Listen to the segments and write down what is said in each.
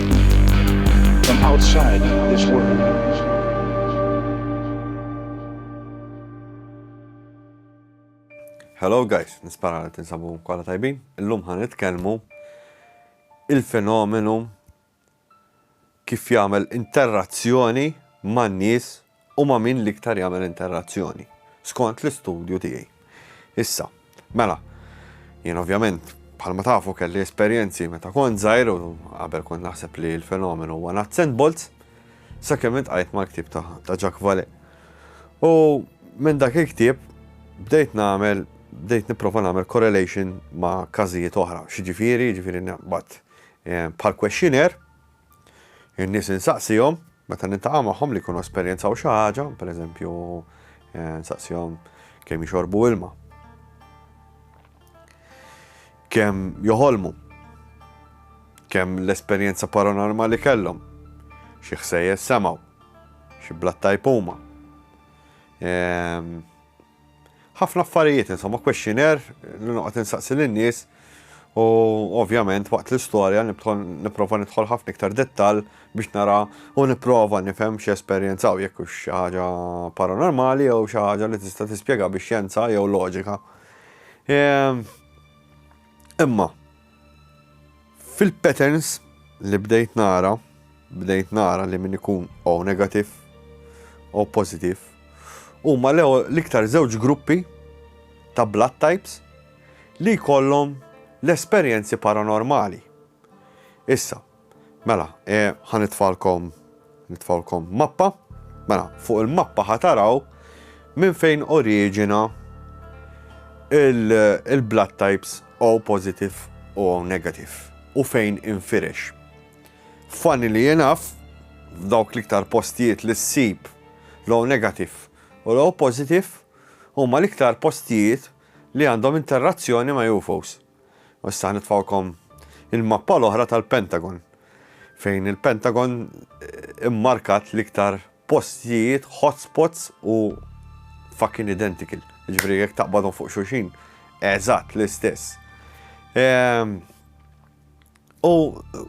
From outside this world. Hello guys, nispara li tinsabu kolla tajbin. Illum ħan nitkellmu il-fenomenu kif jagħmel interazzjoni man-nies u ma' min l-iktar jagħmel interrazzjoni, skont l-istudju tiegħi. Issa, mela, jien ovvjament bħalma tafu kelli esperjenzi meta kont żgħir u qabel kont naħseb li l-fenomenu huwa nuts and bolts, sakemm intqajt mal-ktieb ta', ta Jack Vale. U minn dak il-ktieb bdejt nagħmel bdejt nipprova nagħmel correlation ma' każijiet oħra. Xiġifieri, ġifieri naqbad eh, bħal questionnaire In-nies insaqsihom, meta niltaqa' magħhom li jkunu esperjenzaw xi ħaġa, pereżempju eh, nsaqsihom kemm jixorbu ilma. Kemm joħolmu. Kemm l-esperjenza paranormali kellhom. Xi ħsejjes semgħu. Xi blatta jpuma. Ehm, Ħafna affarijiet insomma, questionnaire li noqgħod insaqsi lin-nies u ovvjament waqt l-istorja nipprova nidħol ħafna iktar dettall biex nara u nipprova nifhem xi esperjenzaw jekk hux xi ħaġa paranormali jew xi ħaġa li tista' tispjega bix-xjenza jew loġika. Ehm, imma, Fil-patterns li bdejt nara, bdejt nara li min ikun O negative, O positive, huma l-iktar żewġ gruppi ta' blood types li jkollhom l-esperjenzi paranormali. Issa, Mela, e, ħa nitfalkom, nitfalkom mappa. Mela, fuq il-mappa ħa taraw minn fejn oriġina il-blood types O positive u O negative u fejn infirex. Funny li jenaf, f'dawk l-iktar postijiet li s-sib l-O negative u l-O positive huma l-iktar postijiet li għandhom interazzjoni ma' UFOs. U issa ħanitfgħukom il-mappa l-oħra tal-Pentagon, fejn il-Pentagon immarkat l-iktar postijiet, hotspots u fucking identical. Ġifieri jekk taqbadhom fuq xulxin, eżatt l-istess. Ehm, u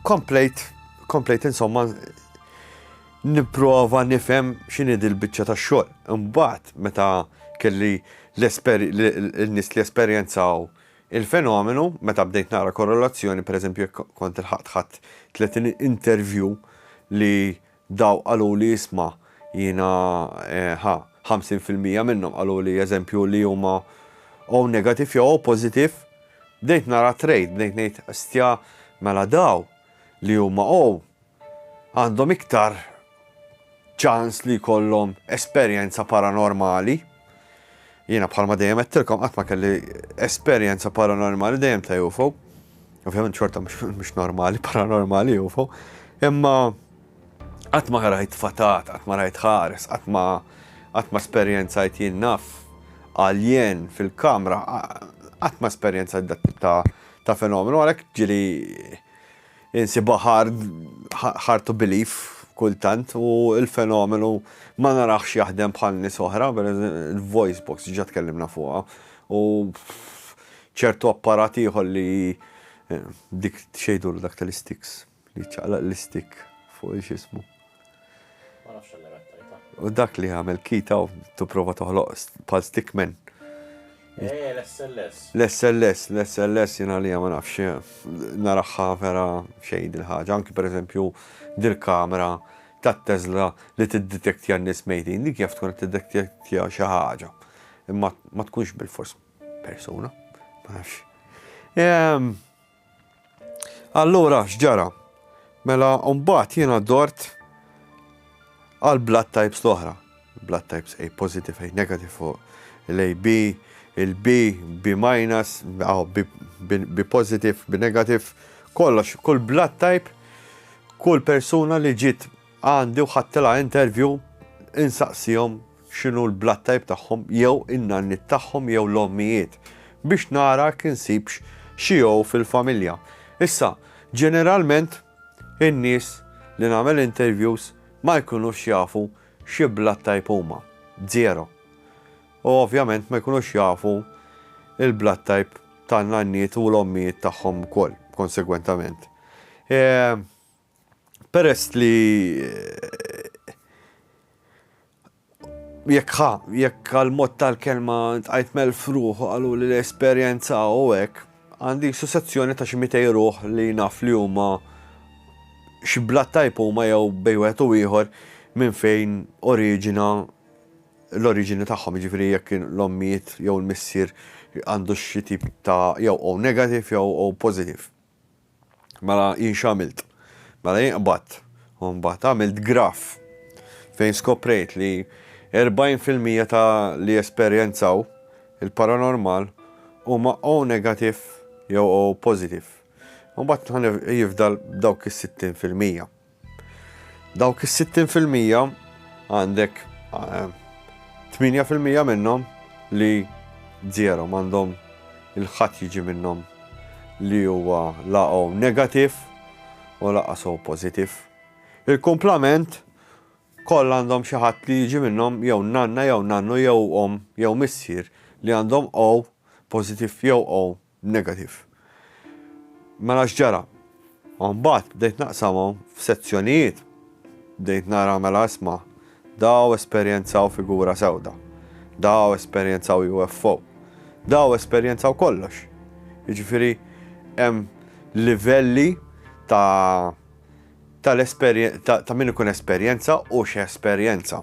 komplejt, komplejt insomma nipprova nifhem x'inhi dil-biċċa tax-xogħol. Imbagħad meta kelli l-nies li esperjenzaw Il-fenomenu, meta bdejt naqra korrelazzjoni, pereżempju jekk kont ilħaqt ħadt tletin interview li dawk qaluli isma' jiena ħa ħamsin fil-mija minnhom qaluli eżempju li huma O negative jew O positive, bdejt nara trade, bdejt ngħid stja mela daw li huma O għandhom iktar ċans li jkollhom esperjenza paranormali. Jiena bħalma dejjem għedtilkom qatt ma kelli esperjenza paranormali dejjem ta' UFO. Ovvjament xorta mhux normali, paranormali UFO. Imma qatt ma rajt fatat, qatt ma rajt ħares, qatt ma qatt ma esperjenzajt jien naf għaljen fil-kamra, qatt ma esperjenzajt dak ta' ta' fenomenu għalhekk ġili Insibha hard hard to believe kultant u l-fenomenu ma naraħx jaħdem bħal nies oħra, il-voice box diġà tkellimna fuqha u ċertu apparat ieħor li dik xejdulu dak tal-istiks li ċaqlaq l-istik fuq il-xismu. U dak li għamel kita u t-prova toħloq pal stickman. Eh, l-SLS. L-SLS, l-SLS jina li ma nafx, naraħħa vera xejn il-ħagġa, anki per eżempju dil-kamera tat Tesla li t-detektja n-nis mejtin, dik jaf tkun t-detektja xi ħaġa. Imma ma tkunx bil-fors persuna, ma nafx. Ehm, Allura x'ġara? Mela mbagħad jiena dort għal blood types l-oħra. Blood types A positive, A negative fuq l-AB, il-B, B minus, B positive, B negative, kollox, kull blood type, kull persuna li ġiet Għandi u ħadtilha interview insaqsihom x'inhu l-blood type tagħhom jew in-nanniet tagħhom jew l-ommijiet biex nara jekk insibx xi O fil-familja. Issa, ġeneralment in-nies li nagħmel interviews ma jkunux jafu xi blood type huma. Zero. U ovvjament ma jkunux jafu l-blood type tan-nanniet u l-ommijiet tagħhom ukoll, konsegwentament. Peress li jekk ħa, jekk għal-mod tal-kelma tqajt mel fruħ għalu li l-esperienza u hekk, għandi sussezzjoni ta' ximitej ruħ li naf li huma xibla tajp huma jew bejwet u ieħor minn fejn oriġina l-oriġini tagħhom, ġifiri jekk l-ommijiet jew l-missier għandu xi tip ta' jew o negativ jew o pozitiv. Mela jien x'għamilt? Mela jien qbadt u mbagħad għamilt graff fejn skoprejt li 40 fil-mija ta' li jesperjenzaw il-paranormal huma O negative jew O positive. U mbagħad jifdal dawk is-60 fil-mija. Dawk is-60 fil-mija għandek 8 fil-mija minnhom li zero m'għandhom il-ħadd jiġi minnhom li huwa laqgħu negativ u laqas u pożittiv. Il-kumplament koll għandhom xi ħadd li jiġi minnhom jew nanna jew nannu jew om jew missier li għandhom O pożittiv jew O b'negativ. Mela x'ġara? U mbagħad bdejt naqsamhom f'sezzjonijiet, bdejt nara mela isma' daw esperjenzaw figura sewda, daw esperjenzaw UFO, daw esperjenzaw kollox. Jiġifieri hemm livelli ta' ta' l-esperjen ta' ta' min ikun esperjenza u x'esperjenza.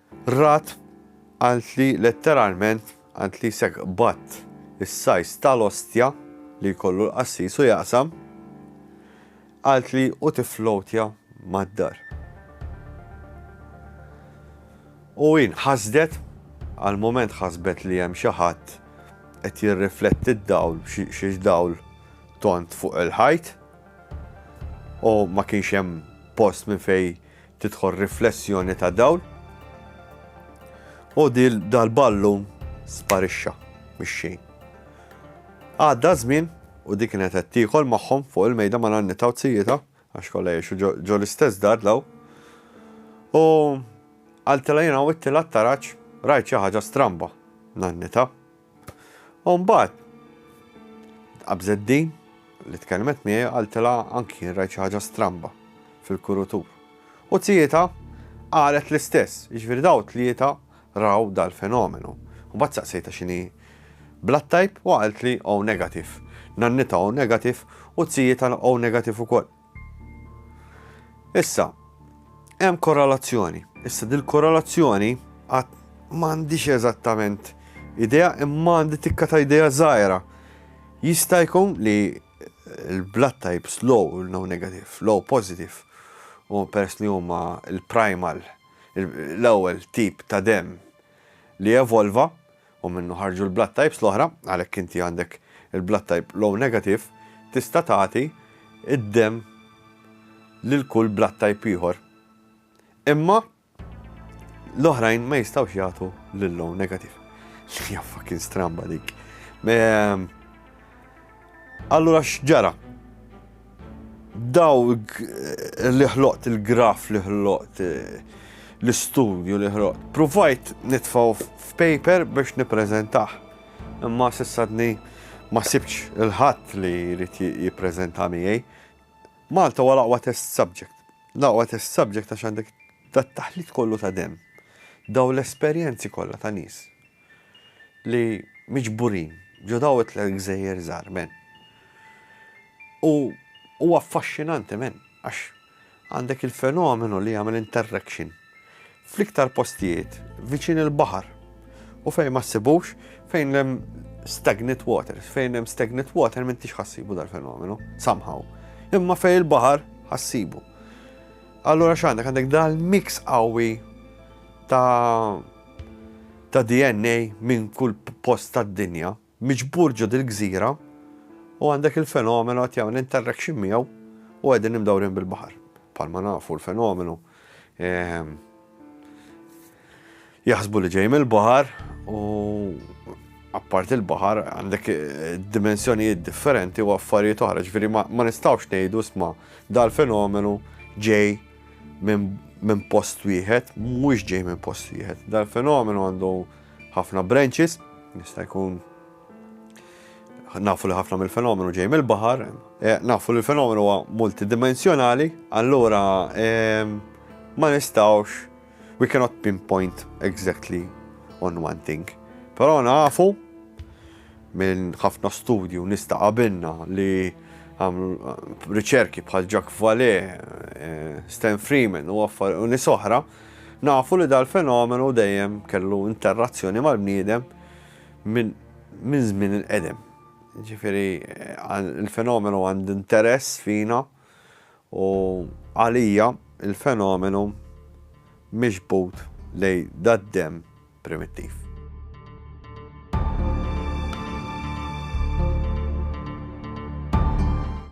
Rat għand li letteralment għand li jsegħ qbadt is-sajs ta' l-ostja li jkollu l-qassis u jaqsam, għand li u tifflowtja mad-dar. U hi nħasdet, għal mument ħasbet li hemm xi ħadd qed jirrifletti d-dawl, xi dawl tond fuq il-ħajt, u ma kienx hemm post minn fejn Tidħol riflessjoni ta' dawl u dal-ballun sparixxa mix-xejn. Għadda żmien u di kienet qed tiekol magħhom fuq il-mejda ma' nannitha u zijietha, għax kollha jgħixu ġo l-istess dar dawl, u qaltilha jiena għawidtilha t-taraġ, rajt xi ħaġa stramba, nannitha, U mbagħad qabżet din li tkellmet miegħi qaltilha anki jien rajt xi ħaġa stramba fil-kurutur. U tzietha qalet l-istess, jiġifieri daw tlieta raw dal-fenomenu. U mbagħad saqsejtha x'inhi blood type u qaltli O negative. Nannitha O negative u tzietha O negative ukoll. Issa, hemm korrelazzjoni. Issa dil-korrelazzjoni għad m'għandix eżattament idea imma għandi tikka ta' idea żgħira. Jista' jkun li l-blood types low, no negative, low positive, u pers li huma l-primal, l-ewwel tip ta' dem li evolva, u minnu ħarġu l-blood types l-oħra, għalhekk inti għandek il-blood type l-O negative, tista' tagħti d-demm lil kull blood type ieħor. Imma l-oħrajn ma jistgħux jagħtu lill-O negative. Hija fucking stramba dik. Ehm, Allura x'ġara? Daw li ħloqt il-graf li ħloqt l-istudju li ħloqt. Provajt nitfaw f'paper biex nippreżentah. Imma sissadni ma sibx il-ħadd li jrid jippreżenta miegħi. Malta huwa l-aqwa test subject. L-aqwa test subject għax għandek dat-taħlit kollu ta' demm. Daw l-esperjenzi kollha ta' nies. li miġburin ġo daw it-tliet gżejjer żgħar, men. U huwa affaxxinanti, men, għax għandek il-fenomenu li jagħmel interrection fl-iktar postijiet viċin il-baħar u fejn ma ssibux fejn hemm stagnant water, fejn hemm stagnant water m'intix ħassibu dal-fenomenu, somehow. Imma fejn il-baħar ħassibu. Allura x'għandek għandek dal-mix qawwi ta' ta' DNA minn kull post tad-dinja miġbur ġo dil-gżira u għandek il-fenomenu qed jagħmel interrection miegħu u qegħdin imdawrin bil-baħar. Bħalma nafu l-fenomenu jaħsbu li ġej mill-baħar u apparti l-baħar għandek eh, dimensjonijiet differenti u affarijiet oħra, ġifieri ma nistgħux ngħidu sma dal-fenomenu ġej minn post wieħed, mhux ġej minn post wieħed. Dal-fenomenu għandu ħafna branches, nista' jkun nafu li ħafna mill-fenomenu ġej mill-baħar, eh, nafu li l-fenomenu huwa multidimensjonali, allura eh, ma nistawx We cannot pinpoint exactly on one thing. Però nafu minn ħafna studju nista' qabilna li riċerki bħal Jack Vale, eh, Stan Freeman u affar u nisoħra, nafu li dal-fenomenu dejjem kellu interazzjoni mal-bniedem minn żmien il-qedem. Ġifiri, eh, il-fenomenu għand interess fina U għalija l-fenomenu miġbud lejn dad-demm primittiv.